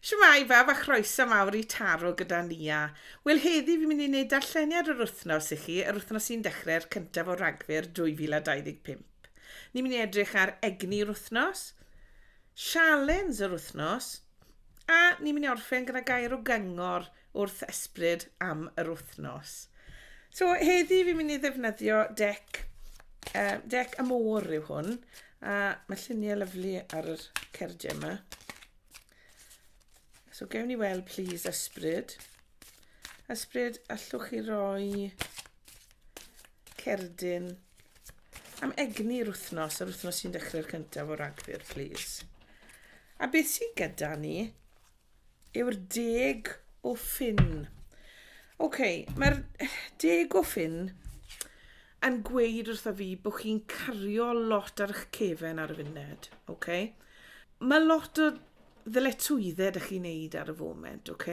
Shwmae bawb a chroeso mawr i Taro gyda Nia. Wel heddi fi'n mynd i wneud darlleniad yr wythnos i chi, yr wythnos sy'n dechrau'r cyntaf o Ragfyr 2025. Ni'n mynd i edrych ar egni yr wythnos, sialens yr wythnos a ni'n mynd i orffen gyda gair o gyngor wrth ysbryd am yr wythnos. So heddi fi'n mynd i ddefnyddio dec, uh, dec y môr yw hwn, a mae lluniau lyflu ar yr cerdiau yma. So gewn ni weld please ysbryd. Ysbryd allwch chi roi cerdyn am egni'r wythnos, yr wythnos sy'n dechrau'r cyntaf o ragfyr, please. A beth sy'n gyda ni? yw'r deg o ffyn. OK, mae'r deg o ffyn yn gweud wrtho fi bod chi'n cario lot ar eich cefen ar y funud. OK? Mae lot o ddyletswyddau ydych chi'n neud ar y foment, OK?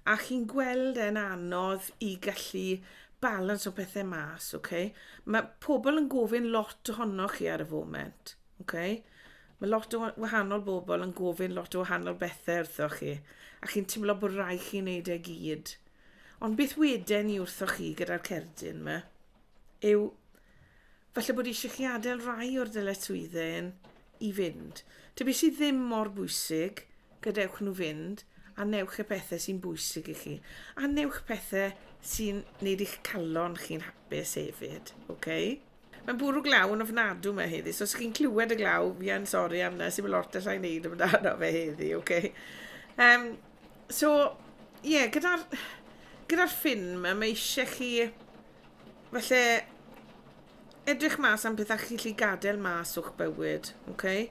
A chi'n gweld e'n anodd i gallu balans o pethau mas, OK? Mae pobl yn gofyn lot ohonoch chi ar y foment. Oce? Mae lot o wahanol bobl yn gofyn lot o wahanol bethau wrthoch chi, a chi'n teimlo bod rai chi'n neud e gyd. Ond beth weden ni wrthoch chi gyda'r cerdyn yma? Yw, falle bod eisiau chi adael rai o'r dyletswyddau i fynd. Te beth sydd ddim mor bwysig, gadewch nhw fynd, a newch y pethau sy'n bwysig i chi. A newch pethau sy'n neud eich calon chi'n hapus hefyd, oce? Okay? Mae'n bwrw glaw yn ofnadw mae heddi. So os chi'n clywed y glaw, fi yn sori am na, sy'n mynd lot allai wneud amdano fe heddi, oce? Okay? Um, so, ie, yeah, gyda'r gyda ffin yma, mae eisiau chi falle edrych mas am pethau chi'n gallu gadael mas o'ch bywyd, oce? Okay?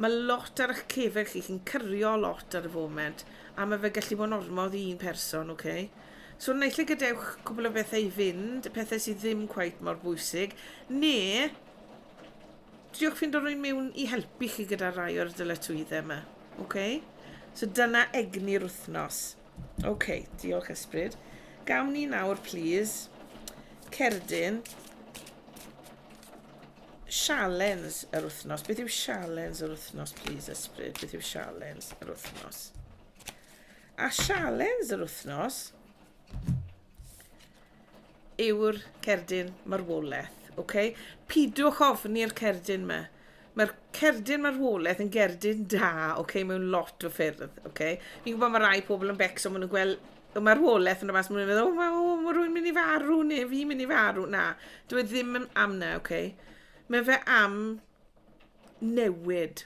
Mae lot ar eich cefeg chi, chi'n cyrio lot ar y foment, a mae fe gallu bod yn ormodd i un person, oce? Okay? So naill ai gadewch cwbl o bethau i fynd, y pethau sydd ddim cweit mor bwysig, neu triwch ffindo rwy'n mewn i helpu chi gyda rai o'r dyletswyddau yma. Okay? So dyna egni'r wythnos. Oce, okay, diolch ysbryd. Gawn ni nawr, please, cerdyn. sialens yr wythnos. Beth yw sialens yr wythnos, please, ysbryd? Beth yw sialens yr wythnos? A sialens yr wythnos yw'r cerdyn marwolaeth. Okay? Pidwch ofni'r cerdyn yma. Mae'r cerdyn marwolaeth yn gerdyn da, okay, mewn lot o ffyrdd. Okay? Fi'n gwybod mae rai pobl yn becso, maen nhw'n gweld y marwolaeth yn y mas, mae'n meddwl, oh, oh, mae rhywun mynd i farw, neu fi mynd i farw. Na, dwi e ddim am na, oce? Okay? Mae fe am newid.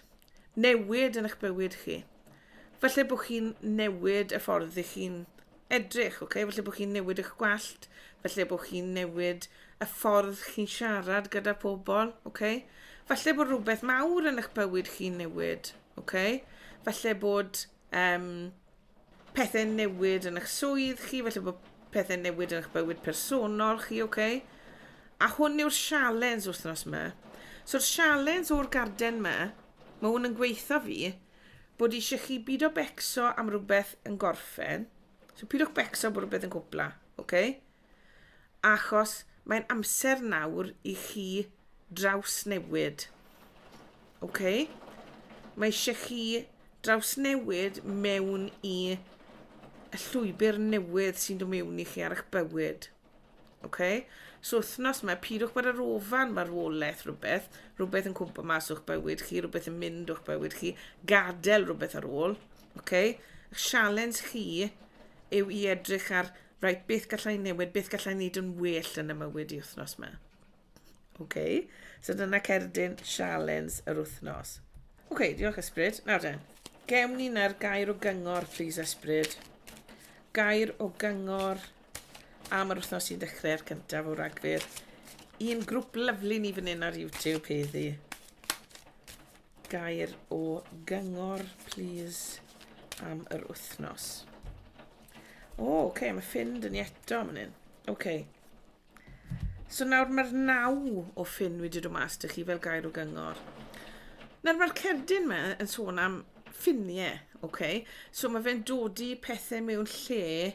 Newid yn eich bywyd chi. Falle bod chi'n newid y ffordd ydych chi'n edrych, oce? Okay? Falle bod chi'n newid eich gwallt, falle bod chi'n newid y ffordd chi'n siarad gyda pobl, oce? Okay? Falle bod rhywbeth mawr yn eich bywyd chi'n newid, oce? Okay? Falle bod... Um, pethau'n newid yn eich swydd chi, felly bod pethau'n newid yn eich bywyd personol chi, oce? Okay? A hwn yw'r sialens wythnos yma. So'r sialens o'r garden yma, mae hwn yn gweitha fi, bod eisiau chi byd o becso am rhywbeth yn gorffen. So pidwch becso bod rhywbeth yn cwpla, oce? Okay? Achos mae'n amser nawr i chi drawsnewid. OK? Mae eisiau chi drawsnewid mewn i y llwybr newydd sy'n dod mewn i chi ar eich bywyd. OK? So wythnos mae pidwch bod yr ofan marwolaeth rhywbeth, rhywbeth yn cwmpa mas o'ch bywyd chi, rhywbeth yn mynd o'ch bywyd chi, gadael rhywbeth ar ôl. OK? Y sialens chi yw i edrych ar Reit, beth gallai newid, beth gallai wneud yn well yn y mywyd i wythnos yma? OK, so dyna cerdyn sialens yr wythnos. OK, diolch Ysbryd. Nawr de, gewn ni na'r gair o gyngor, please Ysbryd. Gair o gyngor am yr wythnos sy'n dechrau ar cyntaf o ragfyr. Un grŵp lyflu ni fan hyn ar YouTube heddi. Gair o gyngor plîs am yr wythnos. O, oce, okay, mae Finn dyn ni eto am hynny. Oce. Okay. So nawr mae'r naw o ffyn wedi dod mas dych chi fel gair o gyngor. Nawr mae'r cerdyn yma yn sôn am ffiniau, oce? Okay? So mae fe'n dodi pethau mewn lle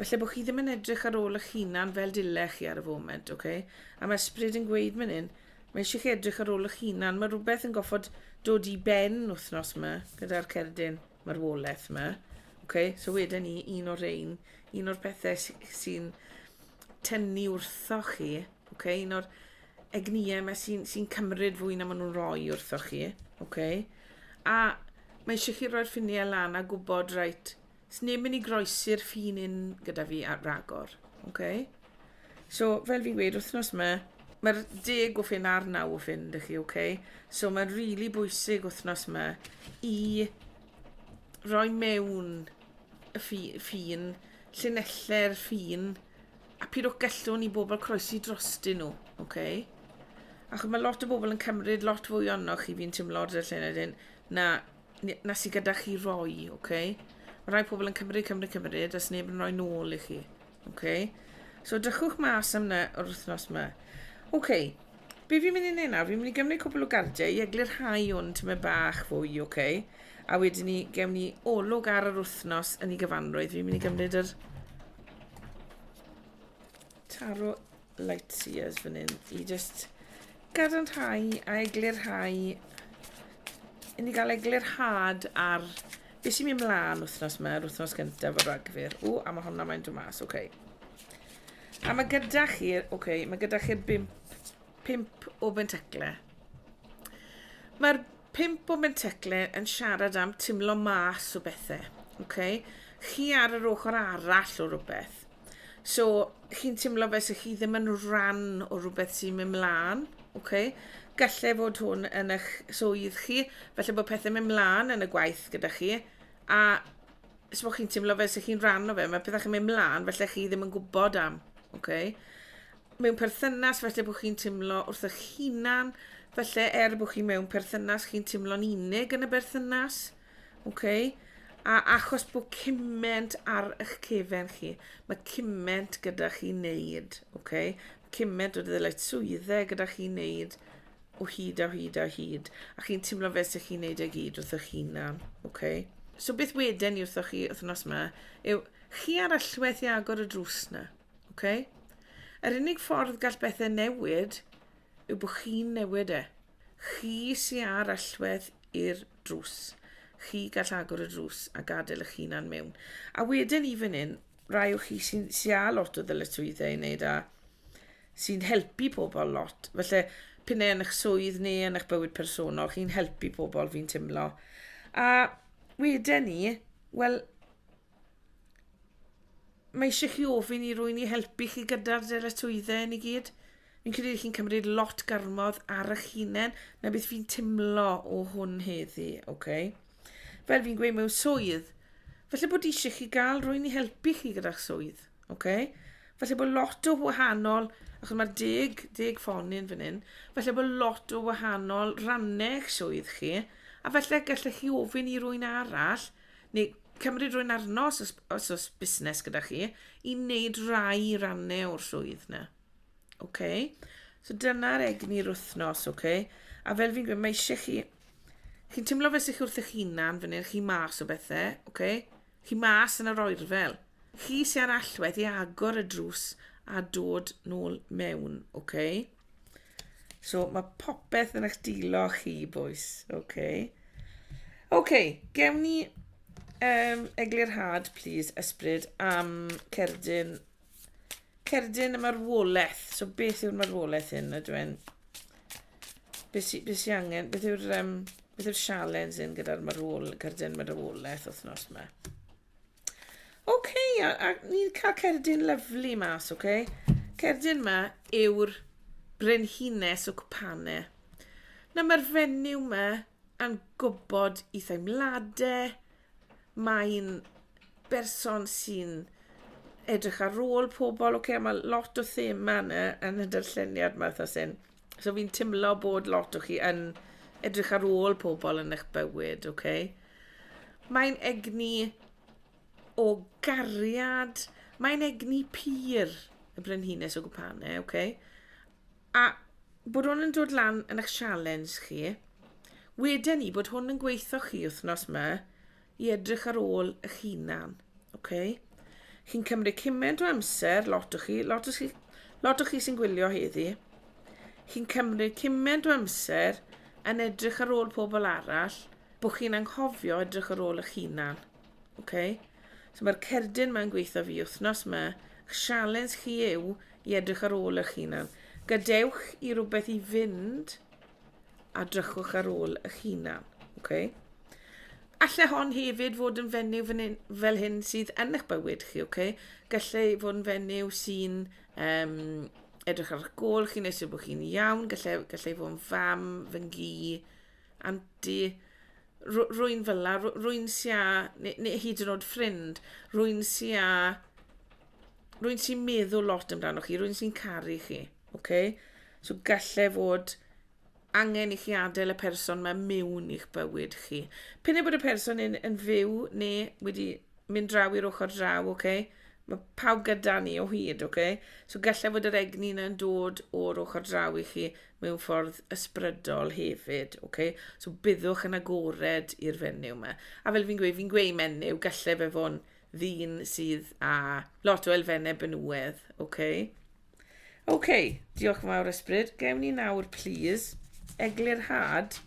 Falle bod chi ddim yn edrych ar ôl eich hunan fel dylech chi ar y foment, ok? A mae ysbryd yn gweud mynd hyn, mae eisiau chi edrych ar ôl eich hunan. Mae rhywbeth yn goffod dod i ben wythnos yma gyda'r cerdyn marwolaeth yma. Okay? So wedyn ni, un o'r ein, un o'r pethau sy'n tynnu wrtho chi, okay? un o'r egnïau yma sy'n sy cymryd fwy na maen nhw'n rhoi wrtho chi. Okay? A mae eisiau chi roi'r ffiniau lan a gwybod, rhaid, Swn i'n mynd i groesi'r ffin un gyda fi ar ragor. Okay? So, fel fi'n gweud, wythnos yma, mae'r deg o ffin a'r naw o ffin, dych chi, okay? So, mae'n rili really bwysig wythnos yma i roi mewn y ffi, ffin, llinellau'r ffin, a pyd o'ch gallwn i bobl croesi drostyn nhw, okay? Achos mae lot o bobl yn cymryd lot fwy onno chi fi'n teimlo o'r lluned hyn na na sydd gyda chi roi, oce? Okay? Mae rhai pobl yn cymryd, cymryd, cymryd, os neb yn rhoi nôl i chi, oce? Okay? So dychwch mas am na o'r wythnos yma. Oce, okay. be fi'n mynd i wneud nawr? Fi'n mynd i gymryd cwbl o gardiau i eglu'r rhai o'n tyma bach fwy, oce? Okay? A wedyn ni, gewn ni olwg ar yr wythnos yn ei gyfanrwydd. Fi'n mynd i gymryd yr taro light sears fan hyn i just gadarnhau a eglurhau i ni gael eglurhad ar beth sy'n mynd mlaen wythnos yma, yr wythnos gyntaf o Ragfyr. O, a mae hwnna mae'n dod mas, oce. Okay. A mae gyda chi, oce, okay, mae gyda chi'r bimp, pimp o bentecle. Mae'r pimp o bentecle yn siarad am timlo mas o bethau, oce? Okay? Chi ar yr ochr arall o rhywbeth. So, chi'n teimlo fe sy'ch chi ddim yn rhan o rhywbeth sy'n mynd mlaen, okay? Gallai fod hwn yn eich swydd chi, felly bod pethau'n mynd mlaen yn y gwaith gyda chi, a os bod chi'n teimlo fe sy'ch chi'n rhan o fe, mae pethau chi'n mynd mlaen, felly chi ddim yn gwybod am, okay? Mewn perthynas, felly bod chi'n teimlo wrth eich hunan, felly er bod chi mewn perthynas, chi'n teimlo'n unig yn y berthynas, okay? Ok, a achos bod cyment ar eich cefen chi, mae cyment gyda chi wneud, ok? Cyment o ddyled swyddau gyda chi wneud o hyd a hyd a hyd, a chi'n teimlo fe sy'ch chi'n wneud e gyd wrth eich hunan, ok? So beth wedyn ni wrthoch chi wythnos yma yw chi ar allwedd i agor y drws na, ok? Yr unig ffordd gall bethau newid yw bod chi'n newid e. Chi sy â'r allwedd i'r drws, chi gall agor y drws a gadael eich hunan mewn. A wedyn i fan hyn, rai o chi sy'n sy â lot o ddyletswyddau i wneud a sy'n helpu pobl lot, falle p'un yn eich swydd neu yn eich bywyd personol, chi'n helpu pobl fi'n timlo. A wedyn ni, wel, Mae eisiau chi ofyn i rwy'n i helpu chi gyda'r dyletswyddau yn i gyd. Fi'n credu chi'n cymryd lot garmodd ar eich hunain, na beth fi'n timlo o hwn heddi, oce? Okay? Fel fi'n gweud mewn swydd, felly bod eisiau chi gael rwy'n i helpu chi gyda'ch swydd, oce? Okay? Felly bod lot o wahanol, achos mae deg, deg ffon i'n fan hyn, felly bod lot o wahanol rannau eich swydd chi, a felly gallech chi ofyn i rwy'n arall, neu cymryd rhywun arno os oes, os oes busnes gyda chi, i wneud rai rannau o'r swydd na. Okay? So dyna'r egni'r wythnos, oce? Okay? A fel fi'n gweud, mae eisiau chi... Chi'n teimlo fe sy'ch wrth eich hunan, fan hyn, chi mas o bethau, oce? Okay? Chi mas yn yr oerfel. Chi sy'n ar allwedd i agor y drws a dod nôl mewn, oce? Okay? So mae popeth yn eich dilo chi, boys. OK. OK, gewn ni um, eglurhad, please, ysbryd, am cerdyn, cerdyn y marwolaeth. So beth yw'r marwolaeth hyn, ydw i'n... Beth sy'n be sy angen, beth yw'r um, beth yw'r sialens hyn gyda'r marwol, cerdyn marwolaeth wythnos yma? Oce, okay, a, a ni'n cael cerdyn lyflu mas, oce? Okay? Cerdyn yma yw'r brenhines o cwpane. Na, mae'r fenyw yma yn gwybod i theimladau. Mae'n berson sy'n edrych ar ôl pobl, oce? Okay? Mae lot o thema yna yn y darlleniad yma, eitha sy'n... So fi'n timlo bod lot o chi yn edrych ar ôl pobl yn eich bywyd, oce? Okay? Mae'n egni o gariad, mae'n egni pur y brenhines o gwpane, oce? Okay? A bod hwn yn dod lan yn eich sialens chi, wedyn ni bod hwn yn gweithio chi wythnos yma, i edrych ar ôl eich hunan. Oce? Chi'n cymryd cyment o amser, lot o chi, lot o chi, lot o chi sy'n gwylio heddi. Chi'n cymryd cyment o amser yn edrych ar ôl pobl arall, bod chi'n anghofio edrych ar ôl eich hunan. Oce? So mae'r cerdyn mae'n gweithio fi wythnos yma, eich sialens chi yw i edrych ar ôl eich hunan. Gadewch i rywbeth i fynd a drychwch ar ôl eich hunan. Okay? Alle hon hefyd fod yn fenyw fan hyn, fel hyn sydd yn eich bywyd chi, okay? Gallai fod yn fenyw sy'n um, edrych ar eich gol chi'n eisiau bod chi'n iawn, gallai, gallai fod yn fam, fy ngi, anti, rwy'n fel la, rwy'n sia, neu, neu hyd yn oed ffrind, rwy'n sia rwy'n sy'n meddwl lot amdanoch chi, rwy'n sy'n caru chi, oce? Okay? So gallai fod angen i chi adael y person mae mewn i'ch bywyd chi. Pyn bod y person yn, yn fyw neu wedi mynd draw i'r ochr draw, oce? Okay? Mae pawb gyda ni o hyd, oce? Okay? So gallai fod yr egni yn dod o'r ochr draw i chi mewn ffordd ysbrydol hefyd, oce? Okay? So byddwch yn agored i'r fenyw yma. A fel fi'n gweud, fi'n gweud menyw, gallai fe fo'n ddyn sydd â lot o elfennau benywaidd, oce? Okay? Oce, okay, diolch yn fawr ysbryd. Gewn ni nawr, please, eglurhad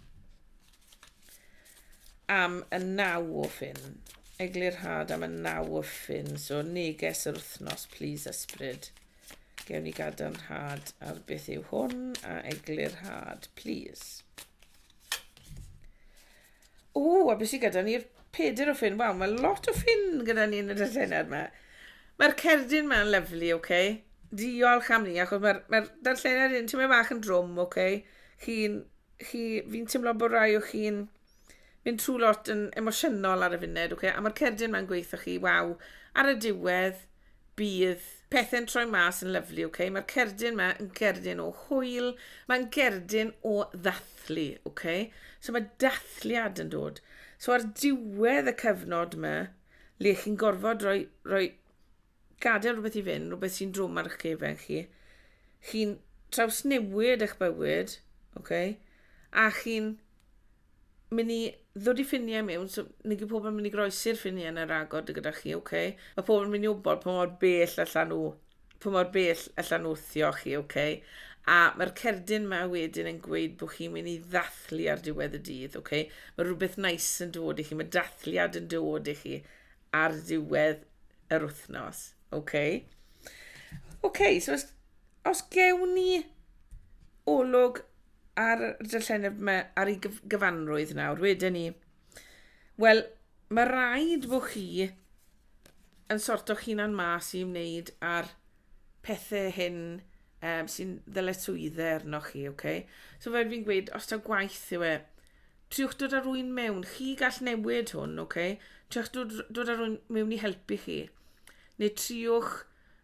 am y naw o ffyn. Eglurhad am y naw o ffyn. So, neges yr wythnos, please, ysbryd. Gewn ni gadarnhad ar beth yw hwn a eglurhad, please. Ww, a beth sydd gyda ni'r peder o ffyn? Waw, mae lot o ffyn gyda ni yn y darllenad yma. Mae'r cerdyn yma'n lyflu, oce? Okay? Diolch am ni, achos mae'r mae darllenad yn tyma fach yn drwm, oce? Okay? Chi'n... Chi, fi'n teimlo bod rai o chi'n mynd trwy lot yn emosiynol ar y funud, oce? Okay? A mae'r cerdyn yma'n gweithio chi, waw. Ar y diwedd, Bydd pethe'n troi mas yn lyfli, ok? Mae'r cerdyn yma yn gerdyn o hwyl, mae'n gerdyn o ddathlu, ok? So mae dathliad yn dod. So ar diwedd y cyfnod yma, le chi'n gorfod rhoi, rhoi gadael rhywbeth i fynd, rhywbeth sy'n drwm ar eich cefen chi, chi'n trawsnewid eich bywyd, ok? A chi'n myn' i ddod i ffinie miwn so ni gyd pobol yn myn' i groesi'r ffinie yn yr agor dy gyda chi oce? Ma' pobol yn myn' i wbod pa mor bell allan nhw pa mor bell allan nhw wthio chi oce? A ma'r cerdyn 'ma wedyn yn gweud bo' chi'n myn' i ddathlu ar diwedd y dydd oce? Ma' rwbeth neis yn dod i chi ma' dathliad yn dod i chi ar ddiwedd yr wthnos oce? Oce so os os gewn ni olwg ar y dylleneb yma, ar ei gyfanrwydd nawr, wedyn ni. Wel, mae rhaid bod chi yn sort o'ch hunan mas i wneud ar pethau hyn um, sy'n ddyletswyddau arno chi, oce? Okay? So fel fi'n gweud, os ta gwaith yw e, triwch dod ar rwy'n mewn, chi gall newid hwn, oce? Okay? Triwch dod, dod ar rwy'n mewn i helpu chi. Neu triwch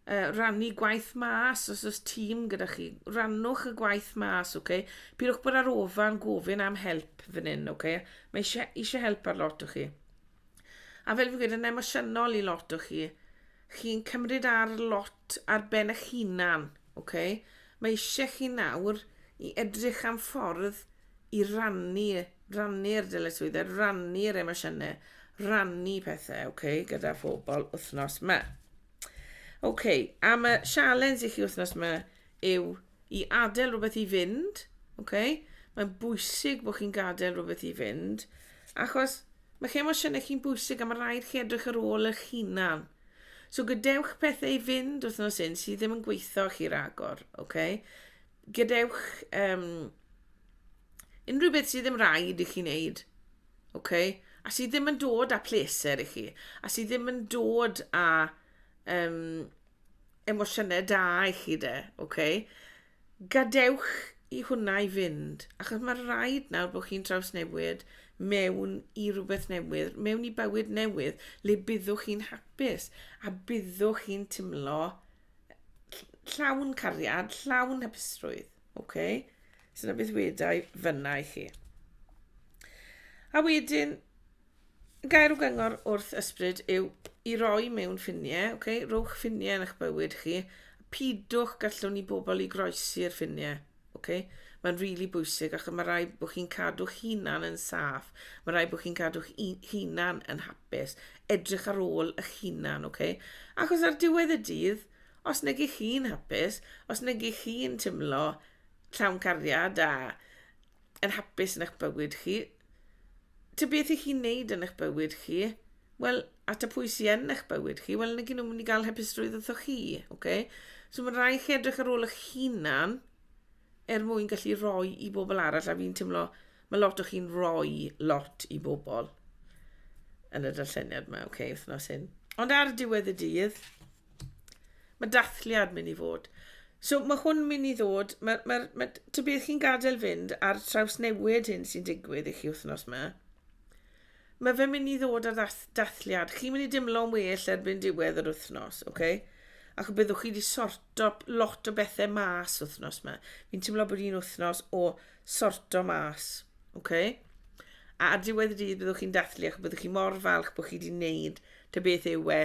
uh, rannu gwaith mas os oes tîm gyda chi. Rannwch y gwaith mas, oce? Okay? Pidwch bod ar ofan gofyn am help fan hyn, oce? Okay? Mae eisiau, eisiau help ar lot o chi. A fel fi'n gweud, yn emosiynol i lot o chi, chi'n cymryd ar lot ar ben eich hunan, oce? Okay? Mae eisiau chi nawr i edrych am ffordd i rannu rannu'r dyletswyddau, rannu'r emosiynau, rannu pethau, oce, okay, gyda phobl wythnos yma. Oce, okay, am y sialens i chi wythnos yma yw i adael rhywbeth i fynd, oce, okay? mae'n bwysig bod chi'n gadael rhywbeth i fynd, achos mae chi emosiynau chi'n bwysig a mae rhaid chi edrych ar ôl eich hunan. So gadewch pethau i fynd wythnos un sydd ddim yn gweithio chi ragor, oce? Okay? gadewch um, unrhyw beth sydd ddim rhaid i chi wneud. Okay? A sydd ddim yn dod â pleser i chi. A sydd ddim yn dod â um, emosiynau da i chi de. Okay? Gadewch i hwnna i fynd. Achos mae rhaid nawr bod chi'n trawsnewid mewn i rhywbeth newydd, mewn i bywyd newydd, le byddwch chi'n hapus a byddwch chi'n timlo Llawn cariad, llawn hapusrwydd. OK? So na beth wedau fyna i chi. A wedyn, gair o gyngor wrth ysbryd yw i roi mewn ffiniau, okay? rowch ffiniau yn eich bywyd chi, pidwch gallwn ni bobl i groesi'r ffiniau. Ocê? Mae'n rili bwysig achos mae rhaid bod chi'n cadw'ch hunan yn saff. Mae rhaid bod chi'n cadw'ch u- hunan yn hapus. Edrych ar ôl eich hunan, ocê? Achos ar diwedd y dydd, os nag 'ych chi'n hapus, os nag 'ych chi'n timlo llawn cariad a yn hapus yn eich bywyd chi, Ta beth i chi'n neud yn eich bywyd chi, wel, at y pwy sy'n yn eich bywyd chi, wel, nag nhw'n mynd i gael hapusrwydd wrtho chi, oce? Okay? So mae'n rhaid chi edrych ar ôl eich hunan er mwyn gallu rhoi i bobl arall, a fi'n teimlo, mae lot o chi'n rhoi lot i bobl yn y darlleniad yma, oce, okay, wythnos hyn. Ond ar diwedd y dydd, Mae dathliad mynd i fod. So mae hwn mynd i ddod, mae'r, mae, mae, ty beth chi'n gadael fynd a'r traws newid hyn sy'n digwydd i chi wythnos yma. Mae fe mynd i ddod ar ddath, dathliad. Chi'n mynd i dimlo'n well erbyn diwedd yr wythnos, oce? Okay? Ac byddwch chi wedi sorto lot o bethau mas wythnos yma. Fi'n teimlo bod hi'n wythnos o sorto mas, oce? Okay? A ar diwedd y dydd byddwch chi'n dathlu ac byddwch chi mor falch bod chi wedi wneud ty beth yw e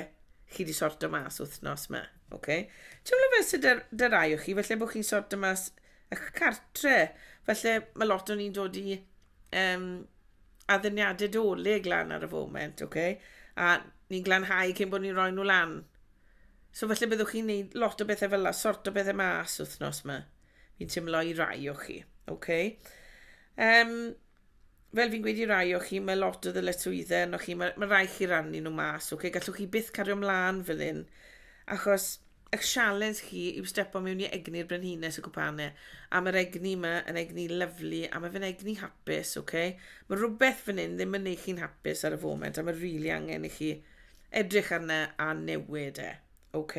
chi di sorto mas wythnos ma, oce? Okay? Teimlo fe sydd dyr, dyr aio chi, felly bod chi'n sorto mas eich cartre. Felly mae lot o'n i'n dod i um, addyniadau dolyg lan ar y foment, oce? Okay? A ni'n glanhau cyn bod ni'n rhoi nhw lan. So felly byddwch chi'n neud lot o bethau fel la, sort o bethau mas wythnos yma. Fi'n teimlo i rai o chi, oce? Okay? Um, fel fi'n gweud i rai o chi, mae lot o ddyletswyddau arnoch chi, mae, mae rai chi rannu nhw mas, okay? gallwch chi byth cario mlaen fel hyn, achos eich sialens chi yw stepo mewn i egni'r brenhines y cwpane, a mae'r egni yma yn egni lyflu, a mae fe'n egni hapus, okay? mae rhywbeth fan hyn ddim yn neud chi'n hapus ar y foment, a mae rili really angen i chi edrych arna a newid e. OK.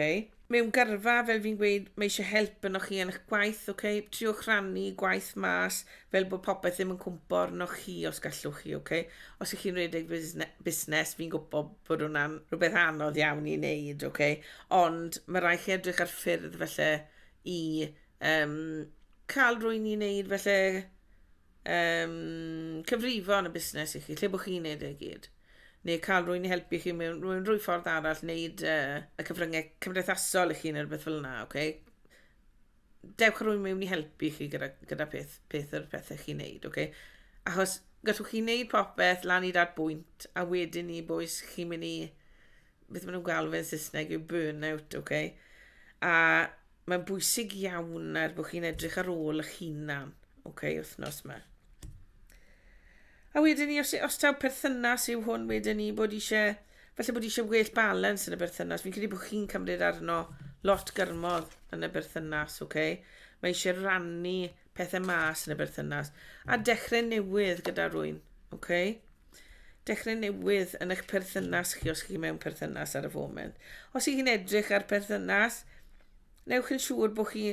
Mewn gyrfa, fel fi'n gweud, mae eisiau help yno chi yn eich gwaith, OK. Triwch rannu gwaith mas, fel bod popeth ddim yn cwmpo arno chi os gallwch chi, OK. Os ych chi'n redeg busnes, fi'n gwybod bod hwnna'n rhywbeth anodd iawn i wneud, OK. Ond mae rhaid chi edrych ar ffyrdd felly i um, cael rwy'n i wneud felly Yym, cyfrifon y busnes i chi, lle bod chi'n neud e i gyd. Neu cael rwy'n i helpu chi mewn rwy'n rwy ffordd arall, neud uh, y cyfryngau cymdeithasol i chi neu rhywbeth fel yna, oce? Okay? Dewch rwy'n mewn i helpu chi gyda, gyda peth, peth yr pethau chi'n neud, oce? Okay? Achos gallwch chi neud popeth lan i dad bwynt, a wedyn ni boes chi'n mynd i beth maen nhw'n galw fe'n Saesneg yw burnout, ok? A mae'n bwysig iawn er bod chi'n edrych ar ôl eich hunan, ok, wythnos yma. A wedyn ni, os, os taw perthynas yw hwn, wedyn ni bod eisiau, felly bod eisiau well balans yn y berthynas. Fi'n credu bod chi'n cymryd arno lot gyrmol yn y berthynas, ok? Mae eisiau rannu pethau mas yn y berthynas a dechrau newydd gyda rwy'n. Okay? Dechrau newydd yn eich perthynas chi os chi mewn perthynas ar y foment. Os ych chi'n edrych ar perthynas, newch yn siŵr bod chi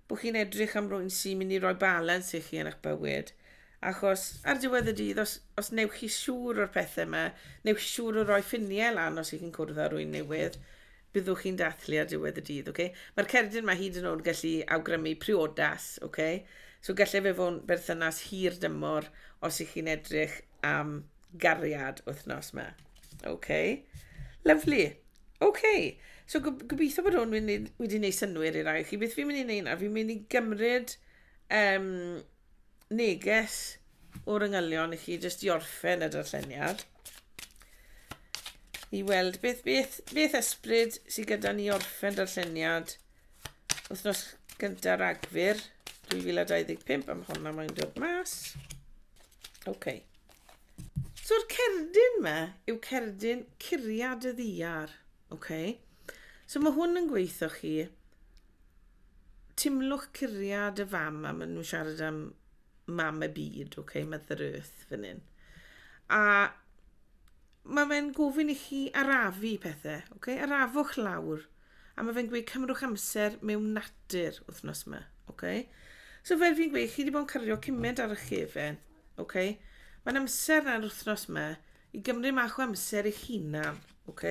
bod chi'n edrych am rwy'n sy'n mynd i roi balans i chi yn eich bywyd. Achos ar diwedd y dydd, os, os newch chi siŵr o'r pethau yma, newch chi siŵr o roi ffiniau lan os ych chi'n cwrdd â rwy'n newydd, Byddwch chi'n dathlu ar diwedd y dydd, oce? Mae'r cerdyn 'ma hyd yn o'd gallu awgrymu priodas, oce? So gallai fe fo'n berthynas hir dymor os ych chi'n edrych am gariad wythnos 'ma. Oce? Lyfli. Oce. So gob- gobeithio bod hwn wedi wedi neud synnwyr i rai o chi. Beth fi'n mynd i neud nawr, fi'n mynd i gymryd yym neges o'r yngylion i chi jyst i orffen y darlleniad i weld beth, beth, beth ysbryd sydd gyda ni orffen darlleniad wythnos gyntaf ragfyr 2025 am honna mae'n dod mas. OK. So'r cerdyn yma yw cerdyn curiad y ddiar. OK. So mae hwn yn gweithio chi timlwch curiad y fam a maen nhw'n siarad am mam y byd, ok, Mother Earth fan hyn. A mae fe'n gofyn i chi arafu pethau, ok, arafwch lawr. A mae fe'n gweud cymrwch amser mewn natur wythnos yma, ok. So fel fi'n gweud, chi wedi bod yn cario cymaint ar y chefen, ok. Mae'n amser na'r wythnos yma I gymryd mach o amser eich hunan, ok?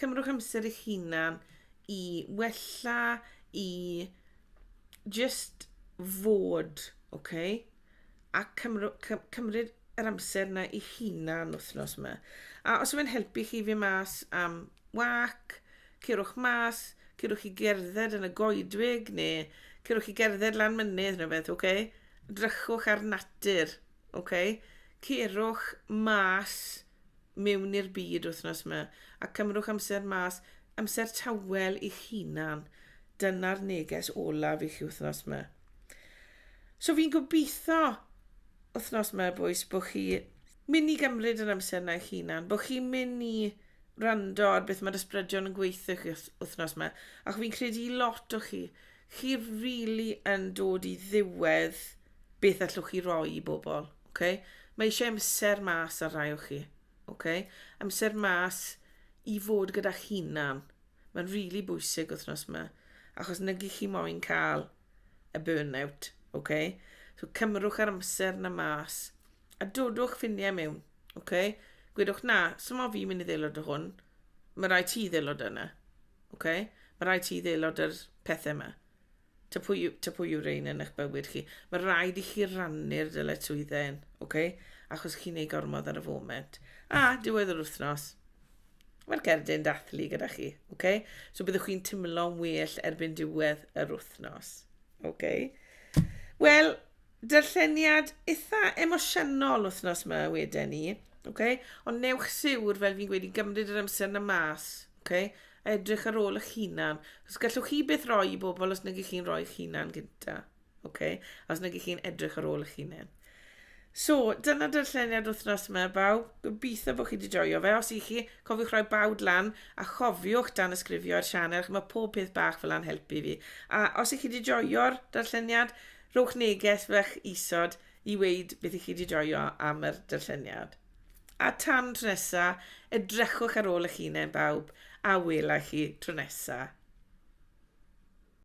Cymrwch amser eich hunan i wella, i just fod, ok? A cymrw, cy, cymryd yr amser yna i hunan wythnos yma. A os yw'n helpu chi fi mas am wac, cyrwch mas, cyrwch i gerdded yn y goedwig neu cyrwch i gerdded lan mynydd neu beth, ok? Drychwch ar natur. Oce? Cerwch mas mewn i'r byd wythnos yma a cymrwch amser mas, amser tawel i'ch hunan. Dyna'r neges olaf i chi wythnos yma. So fi'n gobeithio wythnos yma, bwys, bod chi mynd i gymryd yr amser yna eich hunan, bod chi'n mynd i rando ar beth mae'r ysbrydion yn gweithio chi wythnos yma, ac fi'n credu i lot o chi, chi rili yn dod i ddiwedd beth allwch chi roi i bobl. Okay? Mae eisiau amser mas ar rai o chi. Okay? Amser mas i fod gyda'ch hunan. Mae'n rili really bwysig wythnos yma, achos nag chi moyn cael y burnout. Okay? So cymrwch ar amser na mas, a dodwch ffiniau mewn. Okay? Gwedwch na, sy'n mo fi'n mynd i ddelod o hwn, mae rai ti ddelod yna. Ok? Mae rhaid ti ddeilod yr pethau yma. Ta pwy, yw- ta pwy yw rein yn eich bywyd chi. Mae rhaid i chi rannu'r dyletswyddau hyn, ok? Achos chi'n ei gormod ar y foment. A, diwedd yr wythnos, mae'r cerdyn dathlu gyda chi, ok? So byddwch chi'n timlo'n well erbyn diwedd yr wythnos, ok? Wel, darlleniad eitha emosiynol wythnos yma wedyn ni, ok? Ond newch siwr, fel fi'n gweud, i gymryd yr amser na mas, Okay? A edrych ar ôl eich hunan. Os gallwch chi beth roi i bobl os nag chi'n rhoi eich hunan gynta. Okay? Os nag chi'n edrych ar ôl eich hunan. So, dyna darlleniad wythnos yma, baw. Gobeithio bod chi wedi joio fe. Os i chi, cofiwch rhoi bawd lan a chofiwch dan ysgrifio ar sianel, chi mae pob peth bach fel a'n helpu fi. A os i chi wedi joio'r darlleniad, rhowch neges fach isod i weid beth i chi wedi joio am yr darlleniad. A tan tro nesa, edrychwch ar ôl eich hunain bawb, a wela i chi tro nesa.